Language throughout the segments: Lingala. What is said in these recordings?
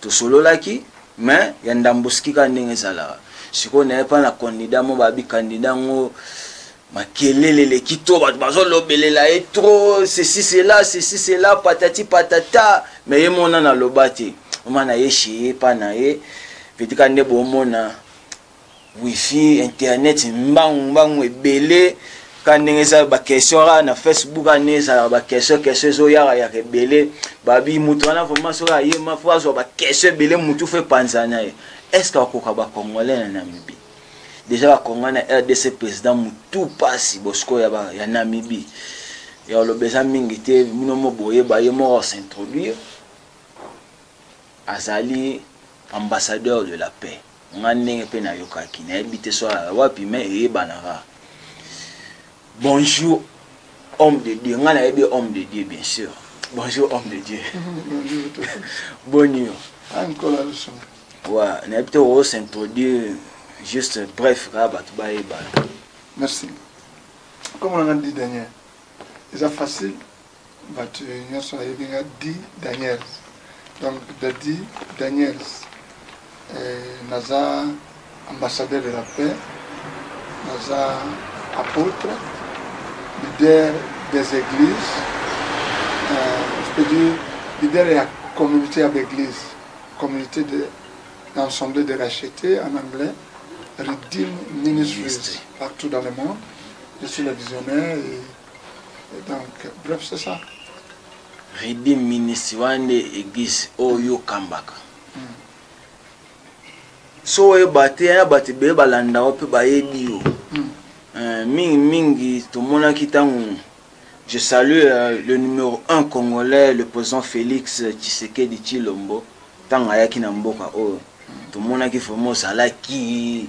tosololaki mais ya ndambuski kaka ndenge ezalaka sikoyo naye mpa na kandida mo babi kandida yango makelele eleki to bato bazolobelela ye tro ceci cela ceci cela patati patata me ye mona naloba te oma na ye sheye mpa na ye vetika nde bomona wifi internet mbangu mbangu ebele ka ndenge eza baquestion kaka na facebook kaka ndenge ezalaka baquestion question ezoyaka yaka ebele babi moto wana vraimen soki ayema fo azwa baquestion ebele motu fo epanza na ye est ce que akoka bacongolais na namibie deja bacongolais na rdc président motu mpasi bosiko ya namibie ya oloba eza mingi te bino mo boyeba ye moko asintroduire azali ambassadeur de la paix Nga ndenge pe na yokaki na yebi te soit wapi mais eyebanaka. Bonjour homme de Dieu nga na yebi homme de Dieu bien sûr. Bonjour homme de Dieu. Bonjour. Ouais, na yebi te o s'introduire juste bref kaka bato bayebana. Merci. Comme on a dit Daniel, c'est facile. bato nyonso nayebi nga di daniels donc dadi daniels eh, naza ambassadeur de la paix naza apôtre leader des églises euh, je peux dire leader ya communauté ya baeglise communauté de l'assemblée de racheté en anglais redeem ministries partout dans le monde je suis le visionnaire et Et donc, bref, c'est ça. Redeem ministre wana nde eglise oyo oh, okambaka hmm. so oyeba te ya bato ebele balanda yo mpe bayebi yo hmm. eh, mingi mingi tomonaki ntango je salue euh, le numéro 1 congolais le président félix tshisekedi tshilombo ntango ayaki na mboka oyo tomonaki vraimen ozalaki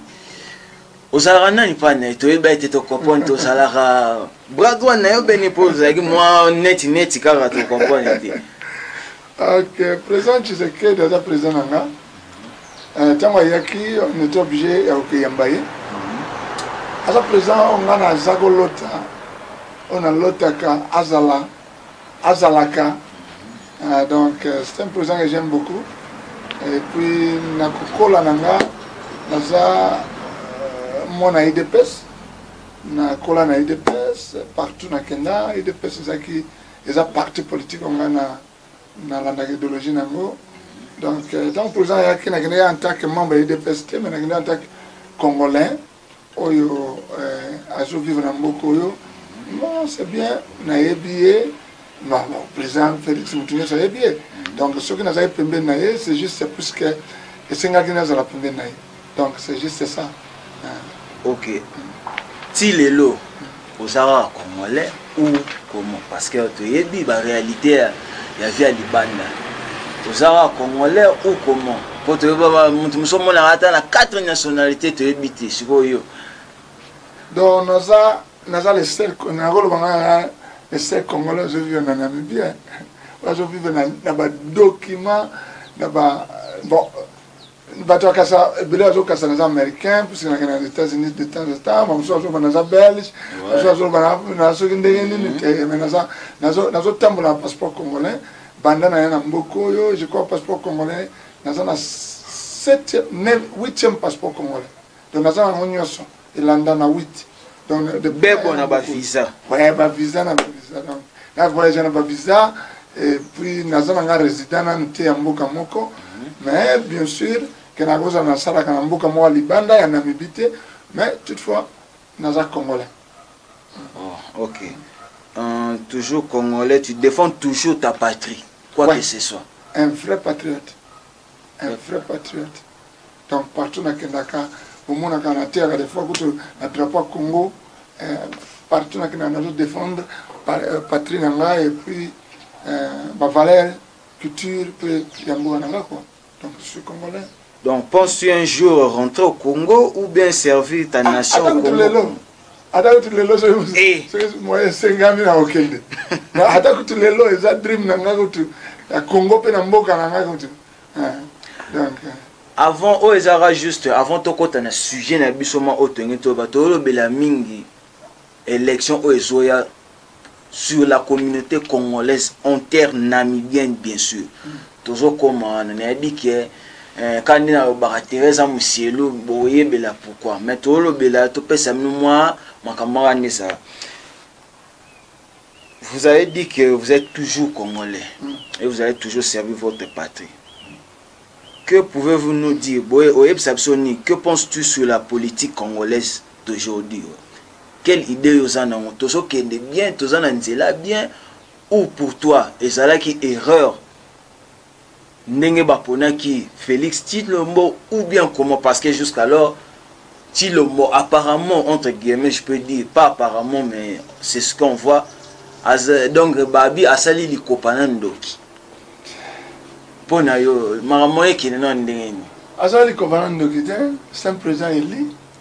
ozalaka nani mpa na ye toyebi ete tokopone tozalaka bras droit na yo beni mpo ozalaki mwa neti neti kaka tokopone te ok président tshisekedi aza président na nga ntango euh, ayaki on était obligé ya kokeyamba ye aza président oyo nga naza kolota oyo nalotaka azala azalaka ah, donc euh, c'est un président que j'aime beaucoup et puis na kokola na nga naza euh, mwana idps nakola na idps partout na kenda idps ezalaki eza parti politique oyo ngai nalandaka idéologie na yango donc euh, ntango président ayaki nakendaki en tant que membre ya idps te mais nakendaki en tant que congolais oyo eh, azo vivre na mboka oyo non c'est bien nayebi ye président félix motu nyonso ayebi ye donc soki nazali pembeni na ye c'est juste puisque esengaki nazala pembeni na ye donc c'est juste ça ok ti lelo oza kaka congolais ou comment parce que toyebi baréalité ya vie ya libanda oza kaka congolais ou comment mpo toyebi moto mosu omonaka ata na quatre nationalité toyebi te sikoyo donc naza naza le seul nakoloba ngaa le seul congolais ozovivre na namibie bazovivre na badocument na ba bon bato ya kasa ebele azokasa naza américain puisque nakenda na états unis de temps en temps bamosusu azoloba naza belge mosusu azoloba na soki ndenge nini te me nazotambola na passeport congolais banda na ya na mboka oyo je crois passeport congolais naza na 8e passeport congolais donc naza yango nyonso elanda na 8 donc bebo na bavisa ouais bavisa na bavisa donc na voyage na bavisa et puis naza na nga résident nanu te ya mboka moko mhm. mais bien sûr ke nakozala nasalaka na mboka moko ya libanda ya namibi te mais toutefois naza congolais oh, ok euh, toujours congolais tu défends toujours ta patrie quoi ouais. que ce soit un vrai patriote un vrai patriote donc partout nakendaka omonaka nateyaka des fois kutu na drapeau ya congo eh, partout nakendaka nazo défendre euh, patrie na ngai et puis euh, bavaleur culture mpe ya mboka na ngai quoi donc je suis congolais donc penses-tu un jour rentrer au congo ou bien servir ta nation au congo ata kutu lelo soki moye esengami na kokende ata kutu lelo eza dream na ngai kutu na congo mpe na mboka na ngai kutu donc avant oyo ezalaka juste avant tokɔta na sujet na biso ma oyo tolingi toyeba toyolobela mingi élection oyo ezoya sur la communauté congolaise enter namibienne bien sûr mm. tozokoma wana nayebi ke eh, kaka nde nalobaka teresa mosielu boyebela pourkui mais tolobela topesa bino mwa makambo aka nde ezala vous avez dit que vous êtes toujours congolais mm. et vous avez toujours servi votre patrie que pouvez-vous nous dire boye oyebisa biso nini que penses-tu sur la politique congolaise d'aujourd'hui oyo quelle idee oza nango tozokende bien toza na nzela bien ou pour toi ezalaki erreur ndenge baponaki félix tilombo ou bien comment parce que jusqu'alors tilombo apparemment entre guillemets je peux dire pas apparemment mais c'est ce qu'on voit As, donc babi asali likopa na ndoki mpo na yo makambo ekende na ndenge nini azali likopa na ndoki te c'est un président élu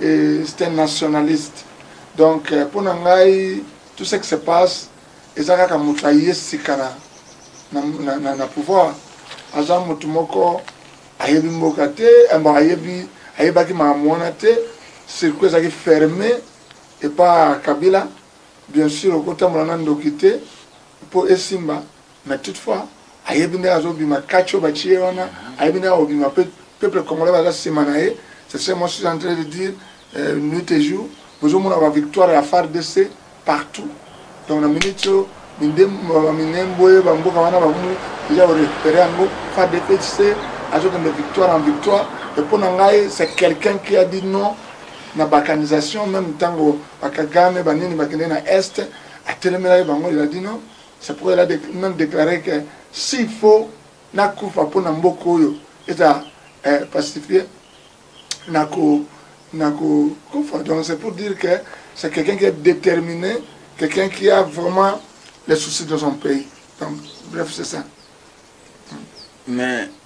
et c'est un nationaliste donc euh, mpo na ngai tout ce qui se passe eza kaka moto aye sika na, na, na, na, na pouvoir aza moto moko ayebi mboka te mbo ayebi ayebaki makambo wana te circuit ezalaki ferme epa kabila bien sûr okotambola na ndoki te mpo esimba mais toutefois ayebi ndenge azobima kati oyo batie ye wana ayebi ndenge akobima mpe peuple congolais baza nsima na ye c'est ce moi suis en train de dire euh, nuit et jour bozomona bavictoire ya fardc partout donc na minute oyo minembwe bamboka wana bakomi deja korécupere yango fardc azokende victoire en victoire et mpo na ngai c'est quelqu'un qui a dit non na balkanisation même ntango bakagame banini bakende na est atelemelaki bango il a dit non C'est pourquoi elle a même déclaré que s'il faut nakufa mpo na mboka oyo eza eh, pacifié nako nakokufa donc c'est pour dire que c'est quelqu'un qui est déterminé quelqu'un qui a vraiment les soucis de son pays donc bref c'est ça mais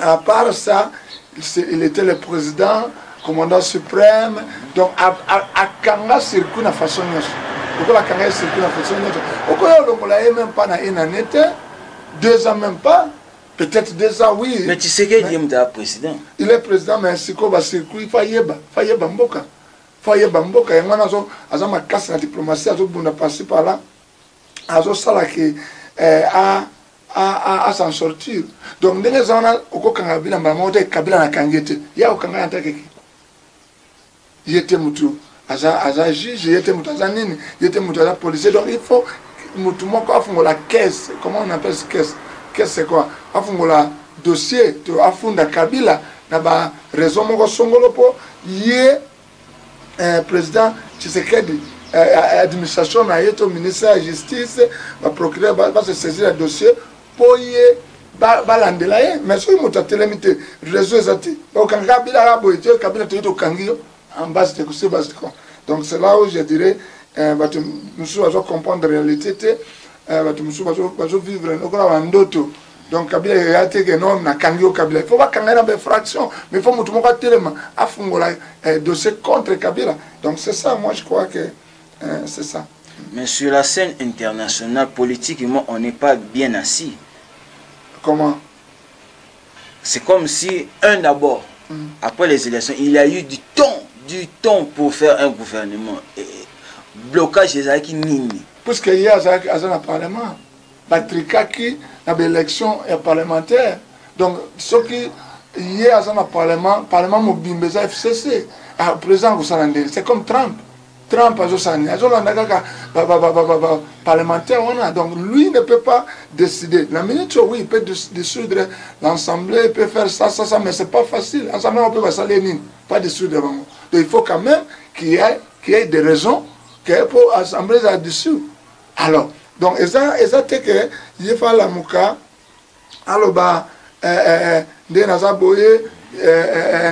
À part ça, il était le président, commandant suprême. Donc, à, à, à Kanga circuit na façon nyonso. Lokola Kanga ye circuit na façon nyonso. Okoya olongola ye même pas na une année te, deux ans même pas. Peut-être deux ans, oui. Mais tu sais qu'il est président. Il est président, mais sikoyo ba circuit fa yeba, fa yeba mboka. Fa yeba mboka yango wana azo aza makasi na diplomatie azobunda par-ci par-là. Azosala ke eh, a a s'en sortir donc ndenge eza wana okokanga kabila mbala moko te kabila nakangi ye te ye akokanga ye antake ki ye te motu aza, aza juge ye te motu aza nini ye te motu aza policier donc il faut motu moko afungola caisse comment on appelle caisse caisse c'est quoi afungola dossier to afunda kabila na ba raison moko songolo mpo ye eh, président tshisekedi eh, eh, administration na ye to ministère ya justice baprocureur base saisir ya dossier mpo ye balandela ye mais soki moto atelemi te réseau eza te okanga kabila kaka boye te kabila toki tokangi yo en base te kosi base con donc c'est là où je dirais bato mosusu bazo comprendre réalité te bato mosusu bazo vivre lokola bandoto donc kabila ya te ke non nakangi yo kabila il faut bakanga ye na bainfraction mais il faut motu moko atelema afungola eh, dossier contre kabila donc c'est ça moi je crois que eh, c'est ça mais sur la scène internationale politiquement on n'est pas bien assis comment c'est comme si un d'abord mm. après les élections il y a eu du temps du temps pour faire un gouvernement et blocage ezalaki nini puisque ye aza na parlement batrikaki na baélection ya parlementaire donc soki ye aza na parlement parlement mobimba eza fcc ah, président akosala ndenge c'est comme trump trump azosala nini azolanda kaka parlementaire wana donc lui ne peut pas décider la minute oui il peut dissoudre l'assemblée il peut faire ça ça ça mais c'est pas facile assemblée wana mpe basali ye nini pas dissoudre bango donc il faut quand même qu'il y ait, qu'il y ait des raisons que mpo assemblée eza dissoudre alors donc eza eza te ke ye fa alamuka aloba eh, eh, eh, nde naza boye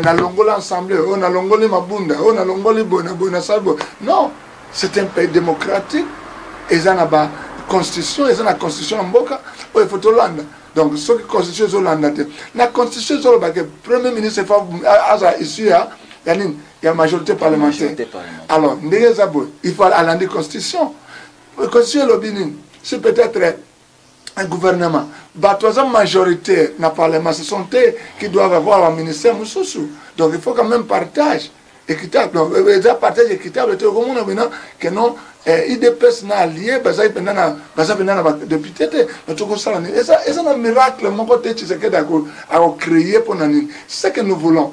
nalongoli ensemble oyo oh, nalongoli mabunda oyo oh, nalongoli boye na boye nasali boye non c'est un pays démocratique eza na ba constitution eza na constitution ya mboka oyo ifo tolanda donc soki constitution ezolanda te na constitution ezolobake premier ministre aza issue ya ya nini ya majorité parlementaire alors ndenge eza boye il faut alandi constitution constitution elobi nini si peut-être un gouvernement bato aza majoritaire na parlement ce sont te qui doivent avoir ba ministère mosusu donc il faut quand même partage équitable donc euh, eza partage équitable te okomona bina que non eh, idps na allie bazali mpenza na baza mpenza na badepute te na tokosala nini eza na miracle moko te tshisekedi akocreye mpo na nini ce que nous voulons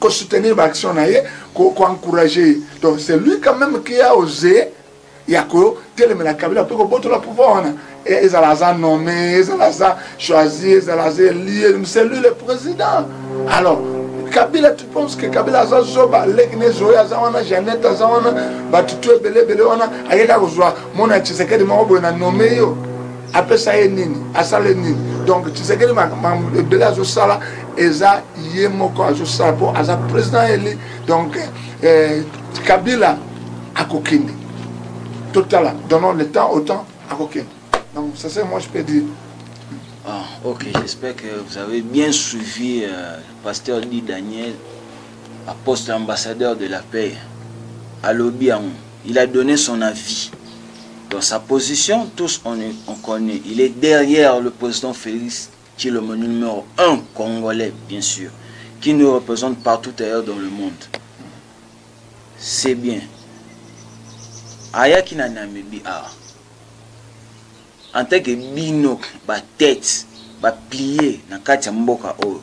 ko soutenir ba action na ye ko ko encourager ye donc c'est lui quand même qui a osé ya ko telemela kabila mpe kobotola pouvoir wana ezala aza nommé ezala aza choisi ezala aza elie c'est lui le président alors kabila tu penses que kabila aza zoba leki ne zoye aza wana janete aza wana batutu ebele ebele wana ayeka kozwa mona tshisekedi moko boye na nommé yo apesa ye nini asala ye nini donc tshisekedi makambo ebele azosala eza ye moko azosala mpo aza président eli donc eh, kabila akokende totala donnons le temps au temps akokende donc ça c'est moi je peux dire Ah, ok, j'espère que vous avez bien suivi euh, Pasteur Di Daniel, à poste ambassadeur de la paix, à l'Obiang. Il a donné son avis. Dans sa position, tous on, est, on connaît. Il est derrière le président Félix Tshilombo numéro 1 congolais, bien sûr, qui nous représente partout ailleurs dans le monde. C'est bien. ayaki na namibi awa en tant que bino batete baplie na kati ya mboka oyo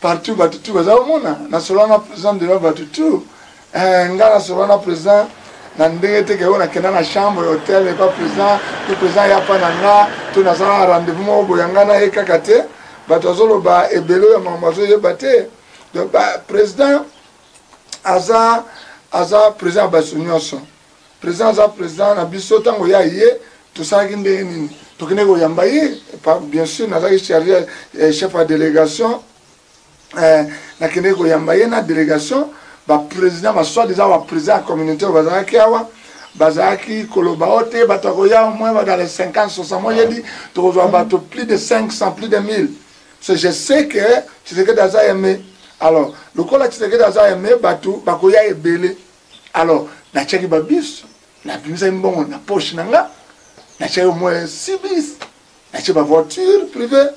partout batu tout baza komona nasolola na president devant batu tout eh, nga nasolola na president na ndenge te keyo nakenda na chambre hotel epa president to president ya pa na nga to naza na rendez-vous moko boya nga na ye kaka te bato azoloba ebele oyo makambo azoyeba te donc president aza aza president ya bato nyonso President aza president na biso tango ya ye tosalaki ndenge nini tokende koyamba ye bien sûr nazalaki charge eh, chef ya délégation eh, nakende koyamba ye na délégation baprésident basoi disant baprésident ya communauté oyo bazalaki awa bazalaki koloba o te bato akoya au moins dans les 50 60 moi yebi tokozwa bato plus de 500 plus de 1000 so je sais que tshisekedi aza aime alors lokola tshisekedi aza aime bato bakoya ebele alors natiaki ba bus nabimisaki mbongo na poche na nga natiaki au moins six bus natie ba voiture privé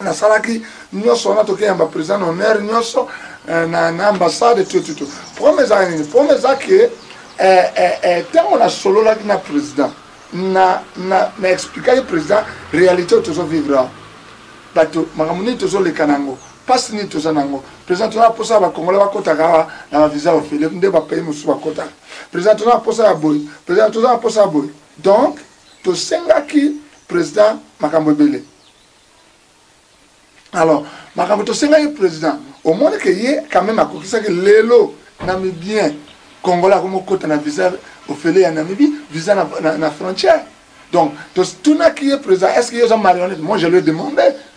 nasalaki nyonso wana tokeya ba président honneur nyonso eh, na, na ambassade tututu problème ezalaki nini problème eza ke ntango eh, eh, nasololaki na président na, na, na explikaki président réalité oyo tozovivre awa bato makambo nini tozoleka na yango pasi nini toza na yango président toza na mposa ya bakongolais bakotaka awa na bavisa ofele nde bapayi mosusu bakotaka président toza na mposa ya boye président toza na mposa ya boye donc tosengaki président makambo ebele alors makambo tosengaki président omoni ke ye quand même akokisaki lelo namibien congolais akomi okota na visa ofele ya namibie visa na, na, na frontière donc totunaki ye président est ce que ye oza marionnette moi je lui demande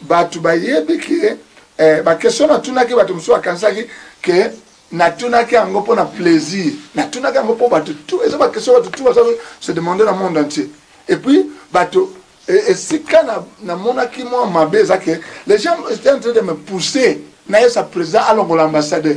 bato bayebi ke eh, bakestion natunaki bato mosusu bakanisaki ke natunaki yango mpo na plaisir natunaki yango mpo bato tu eza bakestion bato tu baza se demande na monde entier et puis bato e, esika namonaki mwa mabe eza ke les gens étaient en train de me pousser nayesa président alongola ambassadeur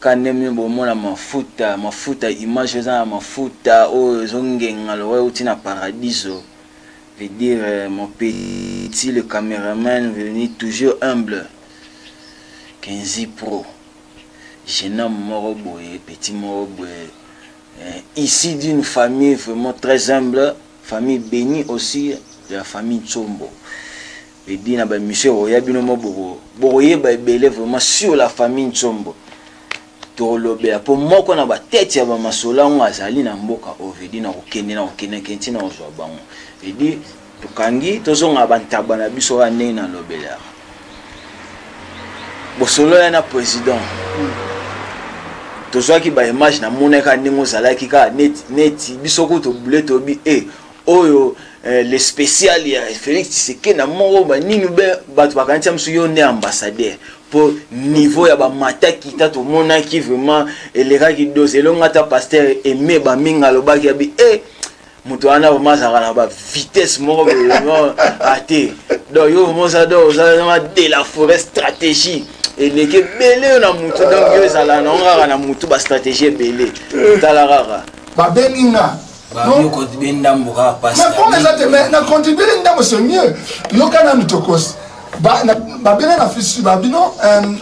Kanemie bomona mafuta mafuta image eza na mafuta oyo ezo ngenga lokola euti na paradiso veut dire mon petit le cameraman venu toujours humble Kenzi pro jeune homme moko boye petit moko boye eh, ici d'une famille vraiment très humble famille bénie aussi de la famille Tsombo Eddy na ba emission ekoya bino mo boko bokoyeba ebele vraiment sur la famille Nsombo tokolobela mpo moko na batete ya bamasolo yango azali na mboka oyo vedi na kokende na kokendeke ntina kozwa bango edi tokangi tozonga bantaba na biso kaka ndenge nalobelaka bosolola na président tozwaki baimage namonaka ndenge ozalaki kaka neti neti biso kutu bule toyebi e eh, oyo eh, le spécial ya Félix Tshisekedi na moko ba nini be bato bakanisa mosu yo nde ambassadeur mpo niveau ya bamataki ta tomonaki vraiment elekaki dose elongo ata pasteur aime bamingi alobaki ya bi e moto wana vraimen azalaka na bavitesse moko vraimen ate ah, donc yo vraimen oza do ozaa de la forêt stratégie eleki ebele yo na motu donc yo ezalaka nango kaka na motu bastratégie ebele tala kaka babengi nga mais comme eza te mais na contribue le ndambo c'est mieux yoka nanu tokosi babele na fisi babino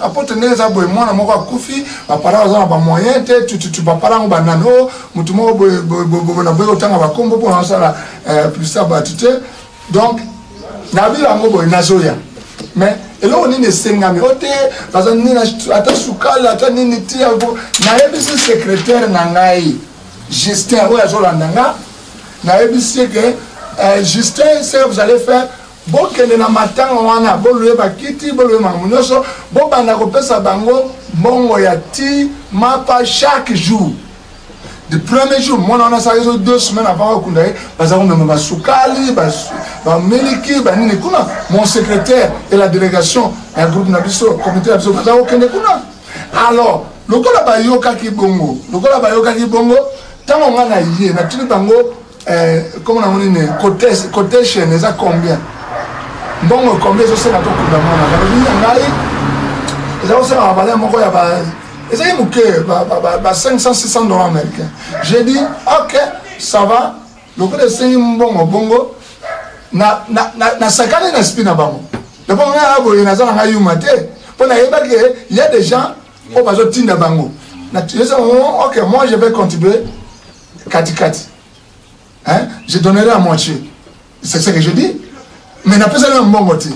apotre ndenge eza boye mwana moko akufi baparent baza na bamoyen te tututu baparent yango banani o motu moko boye na boye kotanga bakombo mpona basala plisa bato te donc nabi yango boye nazoya mais eloko nini esengami o te baza nini ata sukali ata nini ti yango nayebisi secrétaire na ngai Justin oyo azolanda nga nayebisi ye ke eh, Justin ce que vous allez faire bokende na matanga wana bolue bakiti bolue makambo nyonso bobanda kopesa bango mbongo ya ti mapa chaque jour le premier jour mwana wana asala ezo deux semaine avant bakunda ye baza komema basukali bamiliki banini kuna mon secrétaire et la délégation ya groupe na biso comité na biso baza kokende kuna alors lokola bayokaki bongo lokola bayokaki bongo ntango ngai naye natuni bango eh, koma nango nini cotation eza combien mbongo combien ezosenga tokunda mwana balobi ya ngai eza kosenga babale moko ya ba ezali moke ba 500 600 dollars américain j'ai dit ok ça va lokola esengi mbongo bongo nasakani na spi na bango yango ngai ya boye naza na ngai yuma te mpo nayebaki ya des gens oyo bazotinda bango oh, ok moi je vais contribuer katikati hein? je donnerai à moitié c'est ce que je dis mais napesani na mbongo te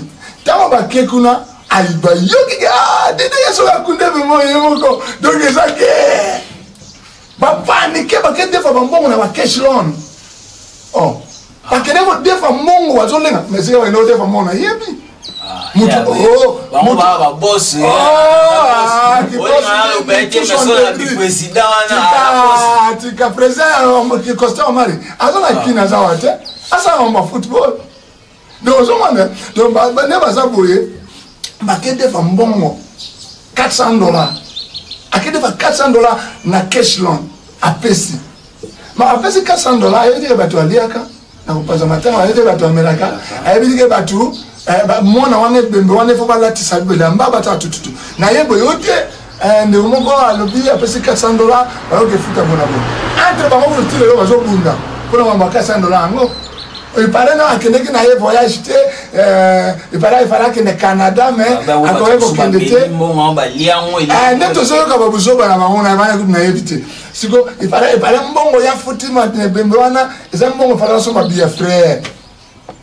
ntango bake kuna ayibayokiki ah, dede yesu akunde memo ye moko donc eza ke bapanike bake defa bambongo na bakesh lone oh. bakende kodefa mbongo bazolenga mesike bakende kodefa mbongo nayebi tika president ya costa omari aza na kini aza wa te asala mambo ya football donc ozomona donc nde baza boye bakedefa mbongo 400 dollar akedefa 400 dollar na cashland apesi ma apesi 400 dollar ayebi te bato aliaka na kopanza matanga ayebi te bato amelaka ayebi te bato eh, mwana wana ebembe wana efo balatisa bilamba bato atututu naye boye yo te Eh, ndeko moko alobi apesi 400 dola bayoka efuta mpona bo entre bango kutu ti lelo bazobunda mpona mambo ya 400 dola yango epare na akendeki na ye voyage te epare eh, efale akende canada me ah, akoki kokende te eh, nde tozoyoka babuzoba na bango na bana kutu nayebi te siko epare mbongo ya futi mabembe wana eza mbongo efale basomba biya frere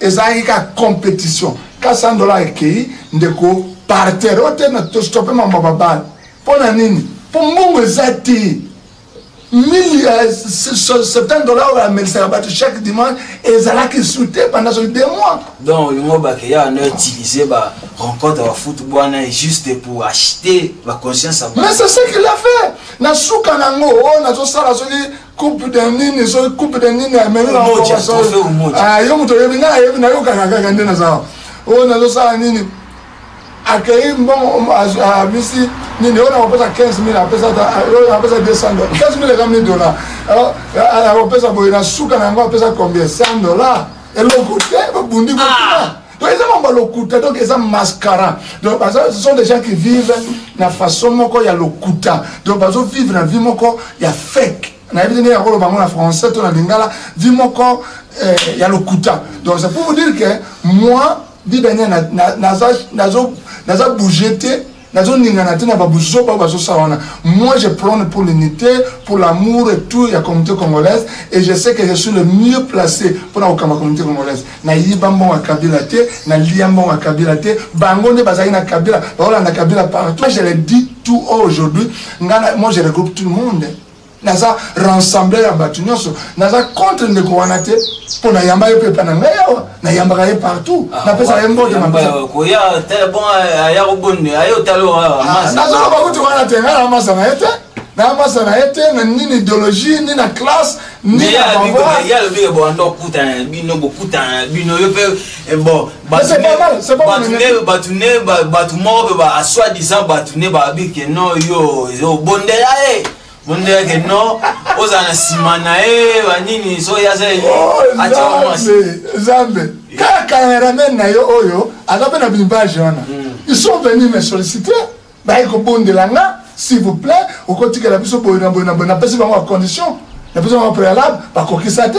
ezalaki ka competition ka 100 dollars ekei ndeko parterre oyo te na tostope mambo babale mpo na nini mpo mbongo eza te 70 euh, dollars oyo amelisaka bato chaque dimanche ezalaki su te pendant soki de mois donc olingo bakeya na utilise ba rencontre ya foot bwana juste pour acheter baconscience mais c'est ce qu'il a fait na suka na yango oyo oh, nazosala soki coupe de nini soki coupe de nini ah, yo moto oyebi nga ayebi nayokaka kaka nde naza oyo nazosala nini akei mbongo abisi nini oyo nakopesa 15 mille apesa 200 dola 15 mille eza mille dola akopesa boye na suka na yango apesa combien 100 dola eloko te babundi kokuna ah. donc eza mambo ya lokuta donc eza mascara donc baza ce sont des gens qui vivent na façon moko ya lokuta donc bazo vivre na vie moko ya fake nayebi te ndenge ya koloba yango na français to na lingala vie moko eh, ya lokuta donc c'est pour vous dire que moi bidania naza bouge te nazoningana te na babuzoba oyo bazosala wana moi je prône pour l'unité pour l'amour et tout ya communauté congolaise et je sais que je suis le mieux placé mpona kokamba communauté congolaise nayiba mbongo ya kabila te nalia mbongo ya kabila te bango nde bazalaki na kabila bakolanda kabila partout je le dis tout aujourd'hui ngai moi je regroupe tout le monde naza rassembler ya bato nyonso naza contre ndeko wana te mpo nayamba ye mpe epa na ngai awa nayambaka ye partout ah, napesaka ye mbote nazoloba kuti wana te ngai namasa na ye te na masa na ye te na nini idéologie ni na classe ni na pouvoiralobike boando okutana na bino bokutana na bino yo mpe eh, bon bato ne bato moko mpe asoi disant bato ne babike no yo obondela ye mondo yake no ozala na nsima na ye banini soki aza zambe kaka cameraman na yo oyo aza mpe na bimbage wana hmm. ils sont venus me solliciter baye kobondela nga s'il vous plaît okotikela biso boye na boye na boye napesi bango bacondition napesi bango préalable bakokisa te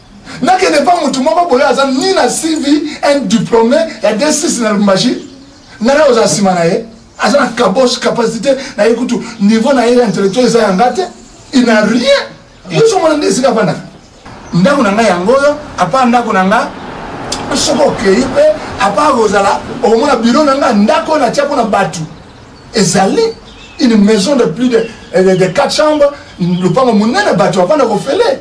nakende mpa motu moko boye aza ni na cv un diplôme ya d6 na lubumbashi nana oza nsima na ye aza na kabos capacité na ye kutu niveau na ye ya intellectuel eza ya nga te il na rien yo somona nde esika afandaka ndako na ngai yango oyo apa ndako na ngai soki okei mpe apa kozala okomona biro na ngai ndako oyo natya mpo na bato ezali une maison de plus de, de, de 4 chambre lopango monene bato bafanda kofele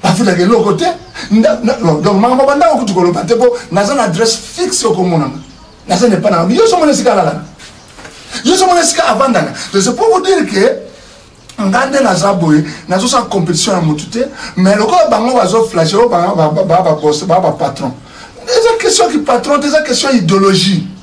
bafutaka eloko te donc makambo bandako kutu koloba te mpo naza na adresse fixe okomonana naza na epa na yo somona esika alalaka yo somona esika avandaka donc c'est pour vous dire que nga nde naza boye nazosala compétition ya motu te mais lokola bango bazoflashe oyo bapatron eza question ki patron te eza question idéologie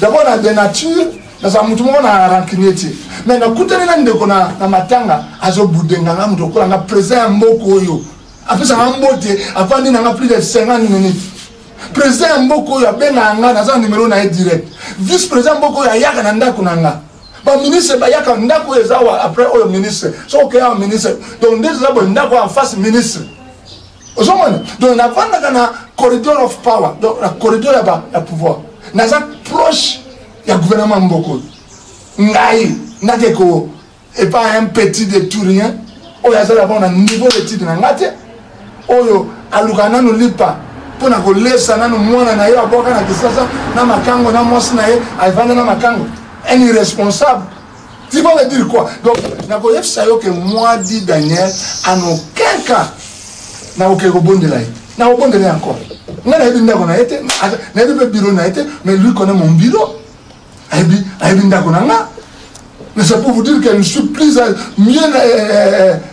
D'abord na de nature nazala motu moko na rancunier te mais nakutani na ndeko na, na matanga azobude nga nga moto okola nga président ya mboka oyo apesaka mbote afandi na nga plus de 50 minutes président ya mboka oyo abengaka nga naza na numero na ye direct vice président ya mboka oyo ayaka na ndako na nga baministre bayaka ndako oyo eza wa après oyo ministre soki okeya wa ministre donc nde toza boye ndako ya face ministre ozomona donc navandaka na corridor of power donc na corridor ya, ba, ya pouvoir naza proche ya gouvernement mboka oyo ngai nake ko epa un petit de tout rien oyo azali abao na niveau d'étude na ngai te oyo aluka nanu lipa mpo na kolesa nanu mwana na ye abwaka na kisasa na makango na mwasi na ye avanda na makango un irresponsable Tu vas me dire quoi Donc, nakoyebisa yo que moi, dit Daniel, en aucun cas, nakoke kobondela ye. Nakobondela ye encore. Nga nayebi ndako na ye te, nayebi mpe biro na ye te, mais lui connaît mon bureau. Ayebi, ayebi ndako na nga. Mais c'est pour vous dire que je suis plus, mieux, euh, euh, euh,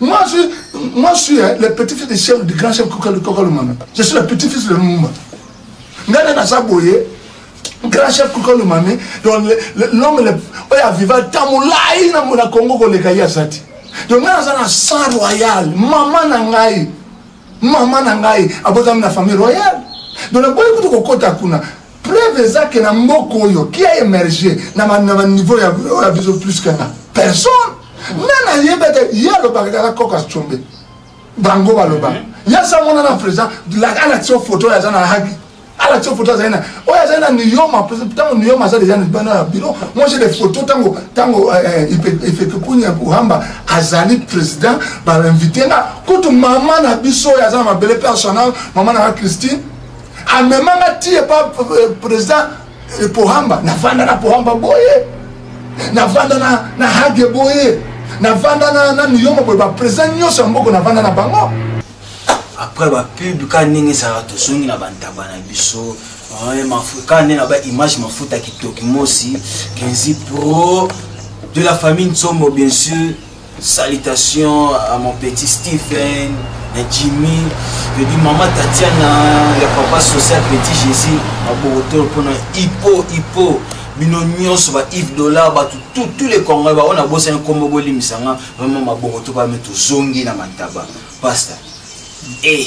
Moi, je, moi, je suis hein, le petit-fils du chef, du grand chef Koukalumana. Je suis le petit-fils de Lumumba. Nana Nasa Boye, grand chef Koukalumana, l'homme le, oyo aviva ntango molai na mona kongo koleka ye aza te donc ngai naza na sang royal mama na ngai mama na ngai abotami na famille royale donc naboyi kutu kokɔta kuna preuve eza ke na mboka oyo qui a emerge na baniveau ya biso plus que na personne nani ayeba te ye alobaka kaka koka combe bango baloba mhm. ye asamona na président alakisi yo photo oyo aza na haki alakisi yo photo azali na oyo azali na niyoma ntango niyoma aza deja bana ya bino moje de photo ntango ntango eh, eh, ifekekunya kuhamba azali président bainvite nga kutu mama na biso oyo aza na mabele personnel mama na nga christine amema nga ti epa euh, président euh, pohamba navanda na pohamba boye navanda na, na hage boye navanda na, na niyoma boye baprésident nyonso ya mboko navanda na bango après bapub ka ndenge ezalaka tozongi na bantaba na biso ka nde na baimage mafuta kitoki mosi kenzi pro de la famille nsombo bien sûr Salutations à mon petit Stephen, à Jimmy, je dis maman Tatiana, le papa social petit Jésus, à Borotor pour Hippo, Hippo, bino nyonso ba Yves Dollar bato tout tous les Congolais baoyo nabosani nkombo bolimisa nga vraiment maboko to bame tozongi na mataba pasta e eh.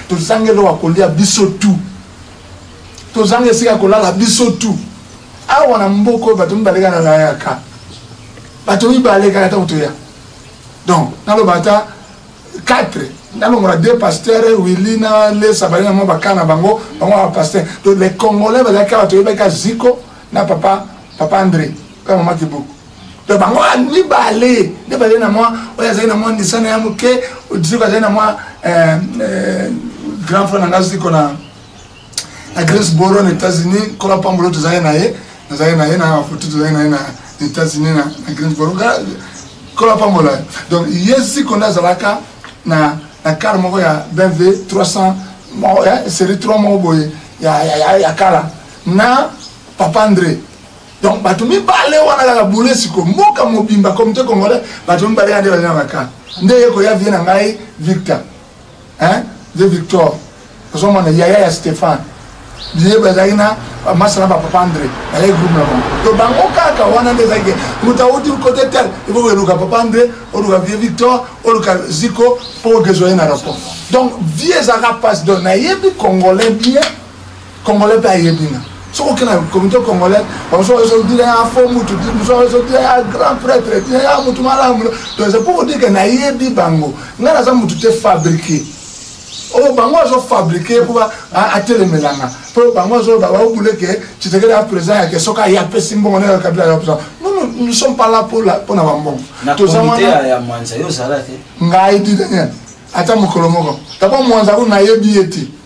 tozanga eloko ya kolia biso tu tozanga esika ya kolala biso tu awa na mboka oyo bato mibale kaka nalayaka bato mibale kaka ntango toya donc naloba ata 4 nalongola deux pasteur willi na lesa bali na mwa bakala na bango bango ba pasteur donc les congolais bazalaki kaka toyebaki kaka ziko na papa papa andré mpe mama kibuku to bango wana mibale nde bazali na mwa oyo azali na mwa ndisana ya moke soki azali na mwa eh, eh, grand frère na ngai siko na na greensboro na états-unis kola pambolo tozali na ye nazali na ye na bafoto tozali na ye na états-unis na greensboro kola pambola ye donc ye siko nde azalaka na na kare moko ya bmv 300 moko ya série 3 moko boye ya kala na papa andre donc bato mibale wana kaka bule siko mboka mobimba comité congolais bato mibale yande bazali na bakar nde ye koya vie na ngai victor hein de victor ozomona yaya ya stéphane biye bazalaki na masala bapapa andre bazalaki groupe na bango to bango kaka wana nde ezalaki moto auti kote tel ifo oluka papa andre oluka vie victor oluka ziko mpo ogezoye na rapport donc vie ezalaka mpasi donc nayebi congolais bien congolais mpe ayebi nga soki oke na comité congolais bamosusu bazo dire ya fo mutu mosusu bazo dire ya grand prêtre dire ya mutu malamu donc c'est pour dire que nayebi bango ngai naza mutu te fabriqué oyo oh, bango azo fabriqué mpo atelemelanga mpo bango azo baobule ke tshisekedi ya président yake soki aye apesi mbongo nayo kabila ya président nous sommes pas là mpo na bambongo toza wana ngai didaniel ata mokolo moko tabo mwanza kuna nayebi ye te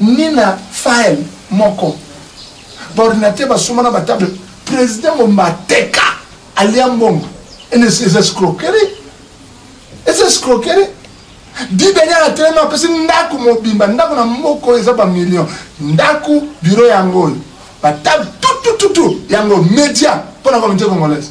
ni na file moko baordinateur basomba na batable président bomba ateka alia mbongo eza escroquerie eza escroquerie didani atelemi apesi ndako mobimba ndako na moko eza bamillion ndako biro yango oyo batable tutututu yango média mpo na comité congolaise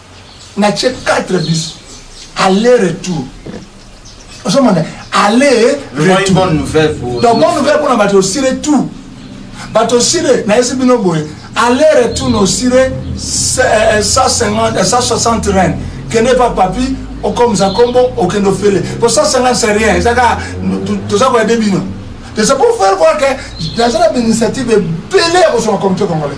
na ce 4 bis aller retour ozomona aller retour bonne nouvelle mpona bato osire tout bato osire nayesi bino boye aller retour na osire 160 reine kende pa papi okomisa nkombo okende ofele po 150 c'est rien eza kaka toza koya de bino c'est pour faire voir que naza na bainitiative ebele ya kozwa na comité congolais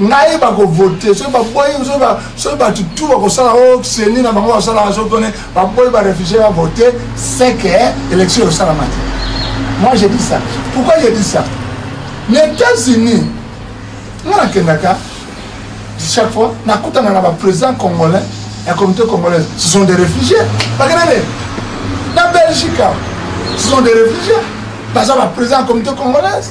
ngai bakovote soki baboyi soki bato tu bakosala o seni na bango basalaka soki tone baboyi barefugie bavote seke élection ekosalama te moi je dis ça pourquoi je dis ça na états-unis nga nakendaka chaque fois nakutana na baprésident congolais ya communauté congolaise ce sont des réfugiés bakenene na belgique ce sont des réfugiés baza baprésident ya communauté congolaise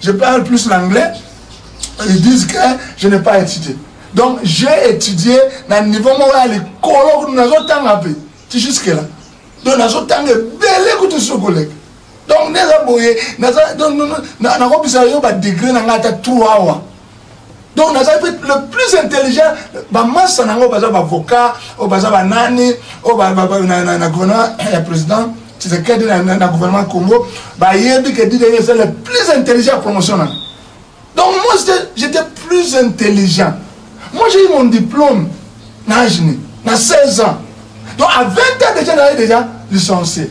Je parle plus l'anglais. Ils disent que je n'ai pas étudié. Donc j'ai étudié na niveau moko ya likolo nazotanga mpe ti jusque là. Donc nazotanga ebele kutu sur koleka. Donc neza boye naza donc nakobisa yo ba degré na ngai ata 3 awa. donc nazali mpe le plus intelligent bamasa na yango baza bavocat oyo baza banani oyo na gouvernement ya président tshisekedi na gouvernement congo bayebi ke didenge eza le plus intelligent ya promotion na donc moi j'étais plus intelligent moi j'ai eu mon diplôme na agene na 16 ans donc à 20 ans déjà naye déjà licencié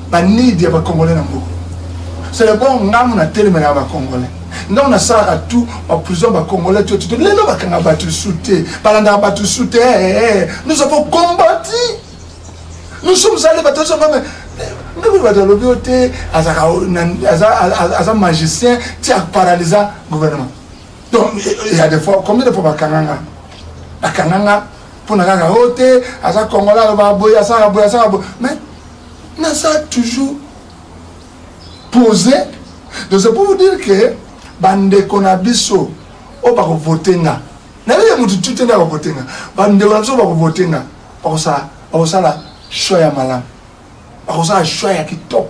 ba need ya ba congolais na mboka c'est le bon ngamu na telemelaka ba congolais ndongo nasalaka tout baprison bacongolais to tito lelo bakanga bato lisu te balandaka bato lisu te nous avons combati nous sommes allés bato nyonso ngame ndeko bato alobi yo te aza magicien ti aparalysa gouvernement donc il y a des fois combien de fois bakanga nga bakanga nga mpo na kaka o te aza congolais aloba boye asaka boye asaka boye mais naza toujours pose donc c'est pour vous dire que bandeko na biso oyo bakovote nga nayebi ya motu tute nde akovote nga bandeko na biso oyo bakovote nga bakosala bakosala choix ya malamu bakosala choix ya kitoko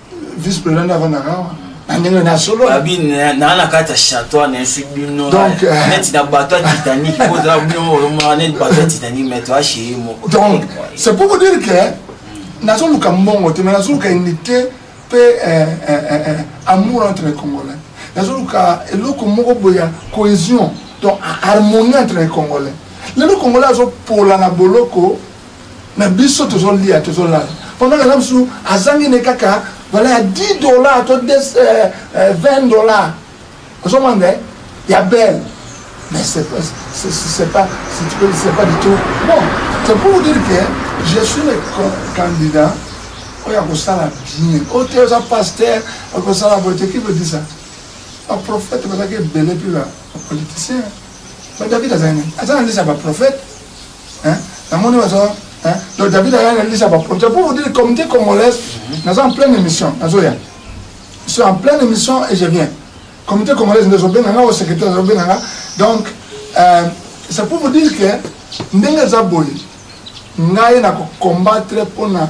vice président nde avandaka awa na ndenge na solo abi naa na kati ya chateau na esu bino eh, eh. neti na bato ya titanique kozala bino olomaka neti bato ya titanique mais to acheye moko donc c'est pour vous dire que hmm. nazoluka mbongo te mais nazoluka unité mpe eh, amour entre les congolais nazoluka eloko moko boye ya cohésion donc harmonie entre les congolais lelo congolais azopola na boloko na biso tozolia tozolala pendant kala mosusu azangi ne kaka vala ya 10 dollar to 20 euh, euh, dollar ozomona ya belle mais c'est pas c'est pas c'est pas du tout bon c'est pour vous dire que je suis le candidat oyo akosala bien oyo te oza pasteur akosala boye te qui veut dire ça baprophète bazalaki ebele mpe bapoliticien ba david azali nini aza na ndisi ya baprophète hein na moni baza hein donc David a na lisa ba projet pour vous dire communauté congolaise mhm. naza en pleine émission nazo ya je suis en pleine émission et je viens communauté congolaise ndezo benga nga au secrétaire ndezo benga nga donc euh, c'est pour vous dire que ndenge eza boye ngai na ko combattre pona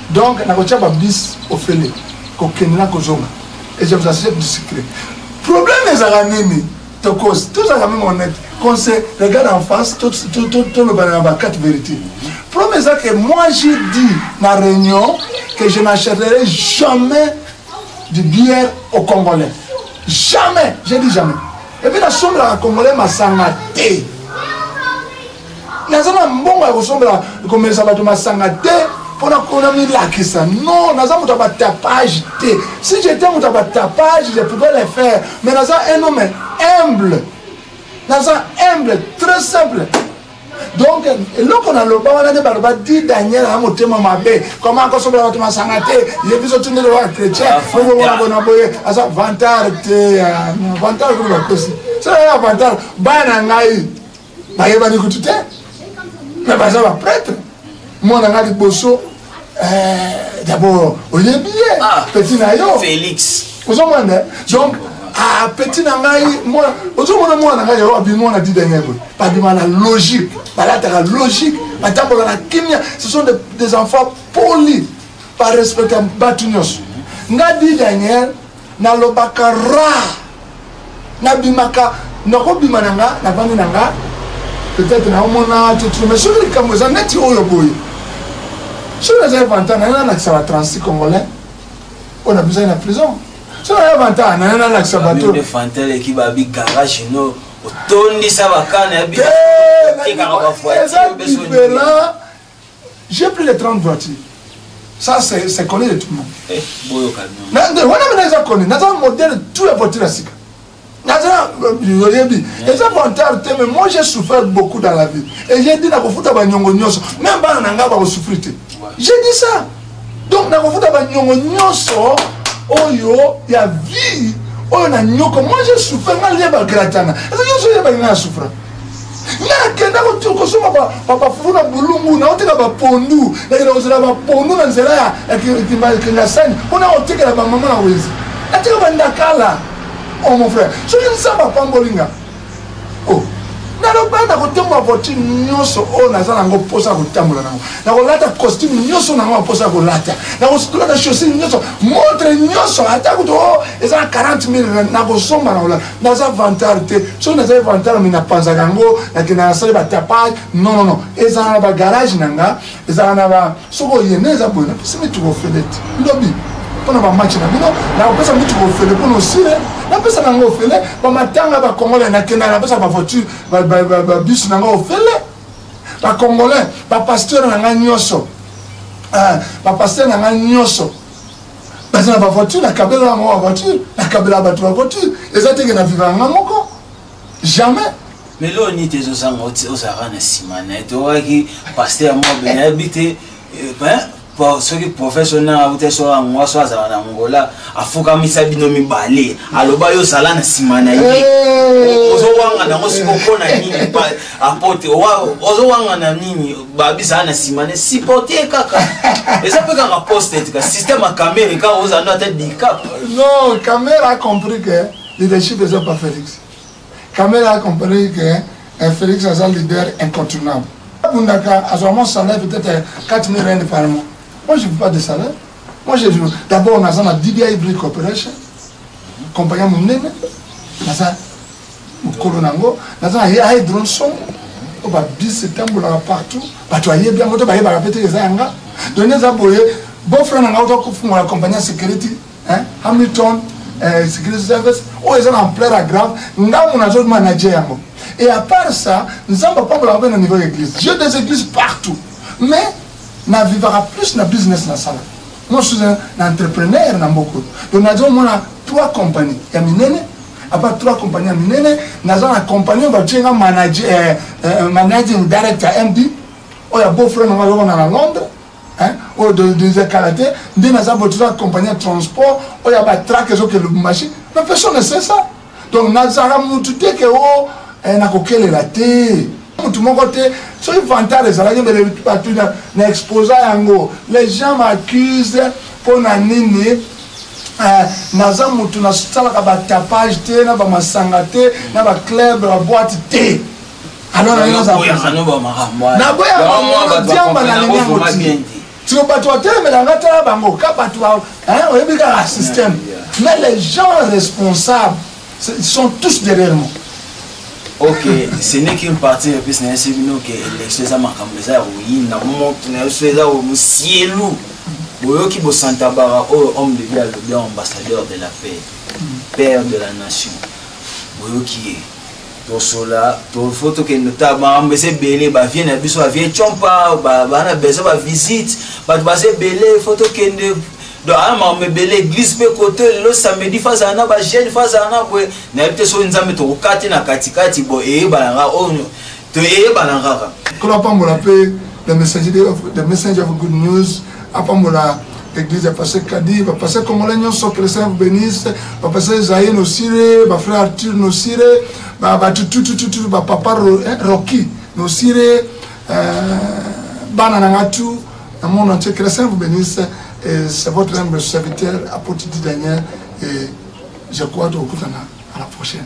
Donc nakotia ba bis ofele kokende na kozonga et je vous assure du secret problème ezalaka nini tokosi tozalaka meme honnête qu'on se regarde en face tolobana na ba quatre vérité problème eza que moi j'ai dit na réunion que je n'achèterai jamais du bière au congolais jamais j'ai dit jamais epuis nasombelaka congolais masanga te naza na mbongo ya kosombela komelisa bato masanga te mpona kona milakisa non naza moto ya batapage te si j'étais moto ya batapage je pouvais le faire mais naza un homme humble naza humble très simple donc eloko naloba wana nde baloba di daniel na motema mabe koma akosobola bato masanga te ye biso tundele wa chrétien obomona bona boye aza vantard te vantard koloba kosi sala ya vantard bana ngai bayebani kutu te me baza bapretre mwana nga liboso eh, dabord oyebi ye ah, peti na yo félix ozomwanda donc ah, peti na ngai ozomona mwana ngai yao abimi mwana didenge boye babima na logique balataka logique batambola na kimia ce sont des enfants polis barespecta bato nyonso nga didenge nalobaka ra nabimaka nakobima na nga navandi na nga peut-être naomona tutu mais soki likambo eza neti oyo boye soki nazali vanta naye nalakisa ba 36 congolais oyo nabisaki na prison soki naye vanta naye nalakisa bato fantaleki babi garage no otondisa bakana ya biso eza diferent J'ai pris les 30 voitures. Ça, c'est connu de tout le monde. Eh, wana mina eza connu naza modèle tout ya voiture ya sika naza euh, oyebi eza vantard te mais moi j'ai souffert beaucoup dans la vie et j'ai dit nakofuta banyongo nyonso même bana na ngai bakosouffrir te j'ai dit ça donc nakofuta banyongo nyonso oyo ya vie oyo na nyoko moi je souffre nga lie bagratana eza nyonso oyo ebangi nga na souffra nga nakenda kosomba bafufu na bulungu naotika bapondu nakenda kozela bapondu na nzela ya kingasani mpo na kotikela bamama na wenzi natika bandakala o oh, mon frère soki nzambe apamboli nga oh. nalobaa nakotomba voiture nyonso oyo naza nango mposa ya kotambola nango nakolata costume nyonso nango ya mposa ya kolata nakolata chaussure nyonso montre nyonso ata kutu o eza na 40 mille nakosomba nakolata naza vantard te soki nazali vantard me napanzaka yango nakenda nasali batapage non non non ezala na bagarage na nga ezala na ba soki oye nde eza boye napesi mituka ofele te lobi mpo na bamatch na bino nakopesa mituka ofele mpo na osile napesa nango ofele bamatanga bacongolais nakenda napesa bavoiture babisi na ngai ofele bacongolais bapasteur na ngai nyonso eh, bapasteur na ngai nyonso baza na bavoiture nakabela yango bavoiture nakabela bato bavoiture eza teke na viva yanga moko jamais mais lelo nini te ezozanga oti ozalaka na nsima na ye te oyaki paster moko bene ayebi te soki profese oyo nanga uta so yango so azala na ngola afukamisa bino mibale aloba yo zala na nsima na ye ozowanga nango siko mpo na nini apote ozowanga na nini babizala na nsima na sipote ye kaka eza mpe kaka poste tika systeme ya camere kaka ozala ndo ata dicap non camere a compris que leadership eza pa félix Kamere a compris que eh, Felix aza leader incontournable. Bundaka azwa mon salaire peut-être 4000 euh, rand par mois. Moi je veux pas de salaire. Moi je veux d'abord on a ça DBI Brick Corporation. Compagnie munene. Naza mukolo nango, naza ya drone son. Oh, ba bis etambolaka partout. Bato ayebi yango to bayebaka mpe te eza yanga. Donc eza boye beau frère nanga otokufungola compagnie ya security hein? hamilton eh, security service oyo eza na ampleur ya grave ngambo nazo manager yango et à part ça nzambe apambolaka mpe na niveau ya église j'ai des églises partout mais navivaka plus na business nasala moi je suis un entrepreneur na mboka donc nazo mona trois compagnie ya minene apa trois compagnie ya minene naza na compagnie oyo batie nga managing director md oyo ya beau frère nanga yoko na na londres Hein? oyo oh, donidonisa kala te nde naza boye toza compagnie ya transport oyo ya batrake ezoke lubumbashi mais personne ne sait ça donc nazala mutu te ke o oh, eh, nakokelela te mutu moko te soki vantard ezalaki mbele bato na exposa yango les gens m'accuse mpo na nini eh, naza mutu nasalaka batapage te na bamasanga te na baclub baboite te alors nayo nazoyaboya bango diamba nalingi yango ti siko bato batelemela nga tala bango ka bato oyebi kaka système mais les gens responsables sont tous derrière moi ok ce n'est qu'une partie ya mpesi nayebi bino ke élection eza makambo eza ya koyina moto na biso eza mosielu boyoki bosantabara oyo homme de vie alobi ambassadeur de la paix père de la nation boyoki ye tosola tofo tokende ta makambo eza ebele bavie na biso bavie compa bana besoin bavisite bato baza ebele fo tokende donc aya makambo ebele église mpe kote lelo samedi fo azala na bajeune fo azala na boye nayebi te soki nzambe tokokati na katikati bo eyebanaka oyo toyeyebana kaka nkolo apambola mpe the messenger of good news apambola église ya pasteur kadi ba pasteur congolais nyonso que le saint vous bénisse ba pasteur zaïe nosire ba frère arthur nosire ba ba tututututu ba papa eh, rocky nosire euh, bana na nga tout na monde entier que le saint vous bénisse et c'est votre humble serviteur apôtre daniel et je crois tokokutana à la prochaine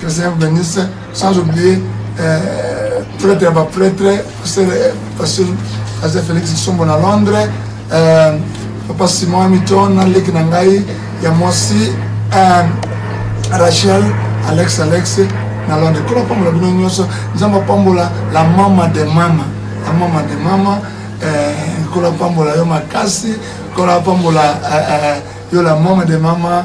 Que le Seigneur vous bénisse, sans oublier euh, prêtre ya baprêtre pasteur pasteur félix kisombo na londres euh, papa simon hamilton na leki na ngai ya mwasi euh, rachel alex alex na londres kola pambola bino nyonso nzambe apambola la mama de mama la mama de mama euh, kola pambola yo makasi kola pambola euh, euh, yo la mama de mama